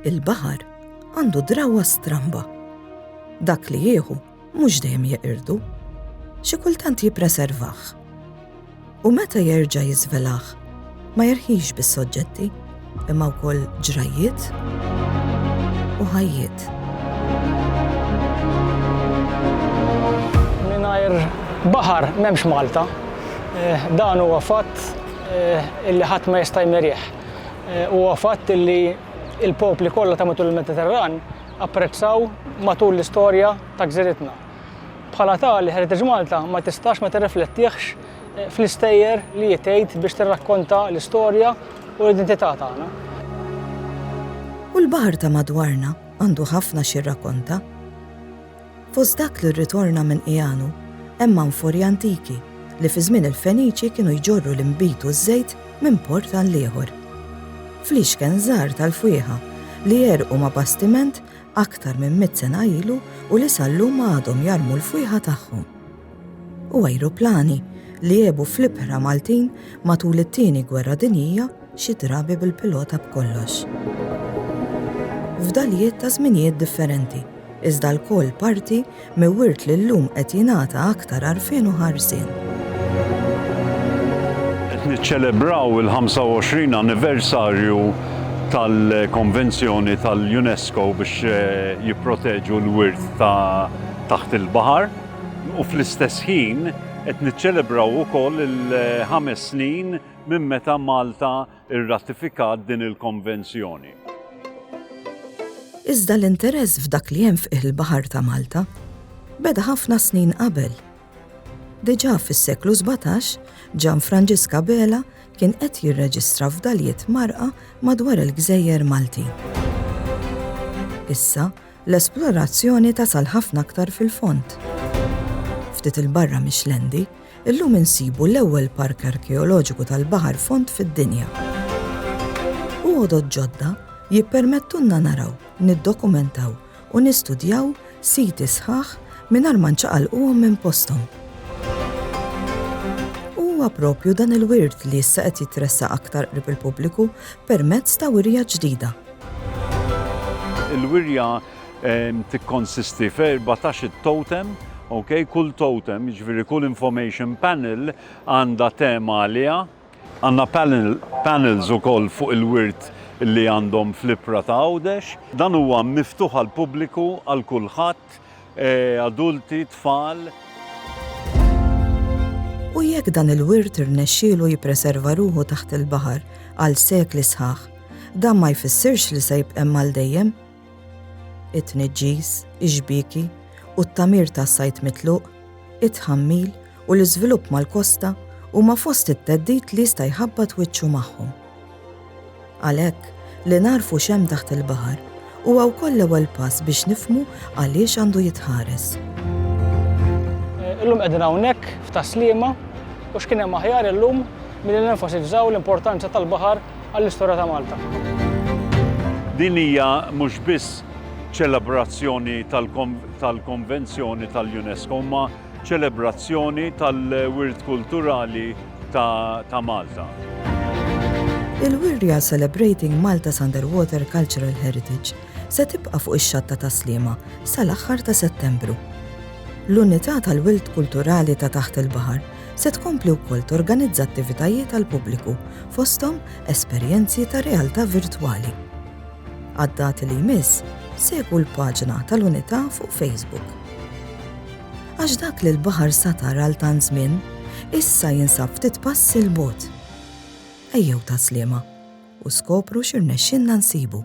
Il-baħar għandu drawa stramba. Dak li jieħu mhux dejjem jeqirdu, xi kultant jippreservah. U meta jerġa' jiżvelaħ, ma jerħix bis-soġġetti. imma wkoll ġrajjiet u ħajjiet. Mingħajr baħar m'hemmx Malta. Eh, dan huwa fatt eh, illi ħadd ma jista' jmerih. Eh, huwa fatt illi il-popli kollha ta' matul il-Mediterran apprezzaw matul l-istorja ta' gżiritna. Bħala tali Heritage Malta ma tistax ma tirriflettihx fl-istejjer li hi tgħid biex tirrakkonta l-istorja u l-identità tagħna. U l-baħar ta' madwarna għandu ħafna xi jirrakkonta. Fost dak li rritorna minn Qiegħanu hemm anfori antiki li fi żmien il-Feniċi kienu jġorru l-inbid u ż-żejt minn port għal ieħor. Fl-ixken żgħar tal-fwieħa li jerqu ma' bastiment aktar minn mit sena ilu u li sal-lum għadhom jarmu l-fwieħa tagħhom. u ajruplani li għebu fl-ibħra Maltin matul it-Tieni Gwerra Dinjija xi drabi bil-pilota b'kollox. Fdalijiet ta' żminijiet differenti, iżda lkoll parti me wirt li llum qed jingħata aktar għarfien u ħarsien. Qed niċċelebraw il-25 anniversarju tal-Konvenzjoni tal-UNESCO biex jipproteġu l-wirt ta' taħt il-baħar. U fl-istess ħin qed niċċelebraw ukoll il-ħames snin minn meta Malta rratifikat din il-Konvenzjoni. Iżda l-interess f'dak li hemm f'qiegħ il-baħar ta' Malta beda ħafna snin qabel. Diġà fis-seklu 17, Ġan Franġiska Bela kien qed jirreġistra f'daljiet marqa madwar il-gżejjer Maltin. Issa, L-esplorazzjoni tasal ħafna aktar fil-fond. Ftit 'il barra mix-Xlendi, illum insibu l-ewwel park arkeoloġiku tal-baħar fond fid-dinja. U għodod ġodda jippermettulna naraw, niddokumentaw u nistudjaw siti sħaħ mingħajr ma nċaqalquhom minn posthom. U huwa proprju dan il-wirt li issa qed jitressaq aktar qrib il-pubbliku permezz ta' wirja ġdida Il-wirja tikkonsisti f'erbatax it-totem, ok, kull totem, jiġifieri kull information panel għandha tema għaliha. Għandna panel, panels ukoll fuq il-wirt li għandhom fl-Ibħra ta' Għawdex. Dan huwa miftuħ għall-pubbliku, għal kulħadd, adulti, tfal. U jekk dan il-wirt irnexxielu jippreserva ruħu taħt il-baħar għal sekli sħaħ, dan ma jfissirx li se jibqem għal dejjem? It-tniġġis, ix-xbieki u t-tamir tas-sajd mitluq, it-tħammil u l-iżvilupp mal-kosta huma fost it-theddid li jista' jħabbat wiċċu magħhom. Għalhekk, li nagħrfu x'hemm taħt il-baħar huwa wkoll l-ewwel pass biex nifhmu għaliex għandu jitħares. Illum qegħdin hawnhekk f'Tas-Sliema u x'kien hemm aħjar illum milli nenfasizzaw l-importanza tal-baħar għall-istorja ta' Malta. Din hija mhux biss ċelebrazzjoni tal-Konvenzjoni tal-UNESCO imma ċelebrazzjoni tal-wirt kulturali ta' Malta. Il-wirja Celebrating Malta's Underwater Cultural Heritage se tibqa' fuq ix-Xatta tas-Sliema sal-aħħar ta' Settembru. L-Unità tal-Wild Kulturali ta' Taħt il-Baħar se tkompli wkoll torganizza attivitajiet għal pubbliku fosthom esperjenzi ta' realtà virtwali. Għad-dati li jmiss, segwu l-paġna tal-Unità fuq Facebook. Għax dak li l-baħar satar għal tant żmien, issa jinsab ftit passi 'l bogħod. Ejjew ta' sliema u skopru x'irnexxinna nsibu.